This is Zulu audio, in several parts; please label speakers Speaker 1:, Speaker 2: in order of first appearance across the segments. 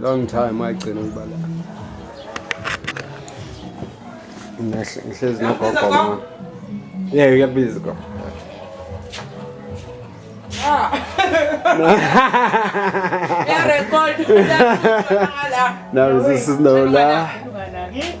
Speaker 1: long time wayigcina ukuba la ngihlezi nogogo ma yeah uyakubiza gogo Yeah,
Speaker 2: record.
Speaker 1: Now this is no lie.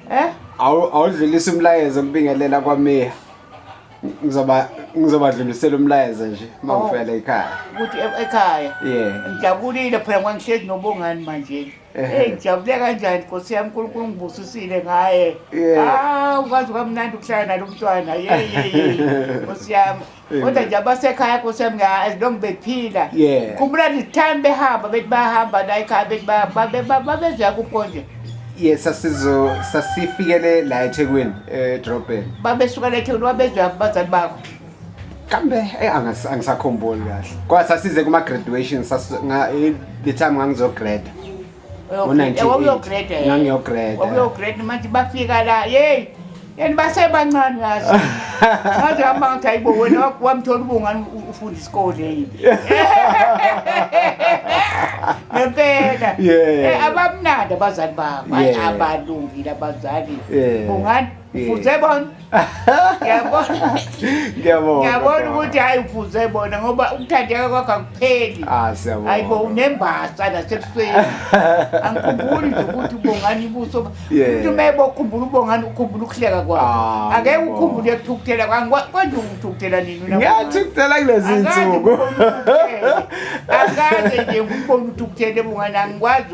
Speaker 1: Eh? Awu awudlulisa umlayezo ukubingelela kwameya. Ngizoba ngizobadlulisela umlayezo nje uma Oh. ngifela ekhaya. Ukuthi e- ekhaya.
Speaker 3: Yeah. Ngijabulile
Speaker 1: phela ngoba
Speaker 3: ngihlezi nobongani manje. Ehhe. Hey ngijabule kanjani Nkosi yami uNkulunkulu ngibusisile ngaye. Yeah. Ah ukwazi kamnandi ukuhlala nalomntwana. Yey yey. yey. Nkosi yami. Amen. kodwa nje abasekhaya nkosi yami nga- as long bephila Yeah. khumbula this time behamba bethi bahamba la ekhaya bethi ba- ba- ba- ba- babezoya kukonje yes sasizo
Speaker 1: sasifikele la ethekwini edrobheni babesuka lethekuni
Speaker 3: babezoya kubazali bakho kambe
Speaker 1: eh, angas- angisakhumbuli kahle kodwa sasize kuma-graduation sasi- nga- eh, the time ngangizograduate
Speaker 3: wawuyogreda manje bafika la yeyi and basebancane yazi ngaze hamba ngathi hayibo wena wamthola ubungani ufunda isikole yini ngempela eh, abamnandi abazali babo abalungile abazali bungani Ufuze bona. Ngiyabona. Ngiyabona. Ngiyabona ukuthi hayi ufuze bona ngoba ukuthandeka kwakho akupheli. Ah siyabona. Hayibo
Speaker 1: unembasa
Speaker 3: la sebusweni. Angikhumbuli nje ukuthi ubongani ibuso. Umuntu mebo ukhumbula ubongani ukhumbula ukuhleka kwakho. Ah, Ake ukhumbule ukuthukuthela kwakho. Konje ukuthukuthela nini na? Ngiyathukuthela kulezi
Speaker 1: insuku. Akaze
Speaker 3: nje ngikubona uthukuthele bungani angikwazi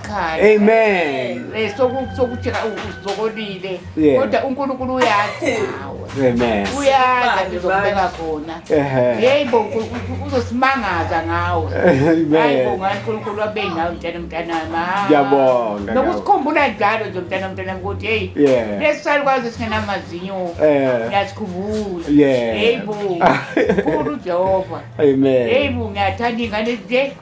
Speaker 3: ekhaya amen
Speaker 1: eh sokuthi
Speaker 3: uzokolile kodwa uNkulunkulu uyazi amen
Speaker 1: uyazi ngizobeka
Speaker 3: khona hey bo uzosimangaza ngawe hayi bo ngani uNkulunkulu abe nawe mntana mntana ma ngiyabonga
Speaker 1: nokusikhumbula njalo
Speaker 3: nje mntana mntana ukuthi hey lesali kwazi singenamazinyo ngiyasikhumbula hey bo uNkulunkulu uJehova amen hey bo
Speaker 1: ngiyathanda
Speaker 3: ingane nje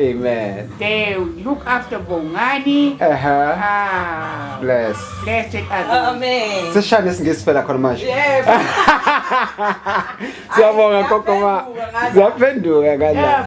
Speaker 3: Amen. They
Speaker 1: look
Speaker 3: after Bongani. Uh-huh. Ah.
Speaker 1: Bless. Bless
Speaker 3: it as well. Amen. Sishaya
Speaker 2: nesingisi phela
Speaker 1: khona manje. Yebo. Siyabonga
Speaker 2: kokoma.
Speaker 1: Zaphenduka kanje.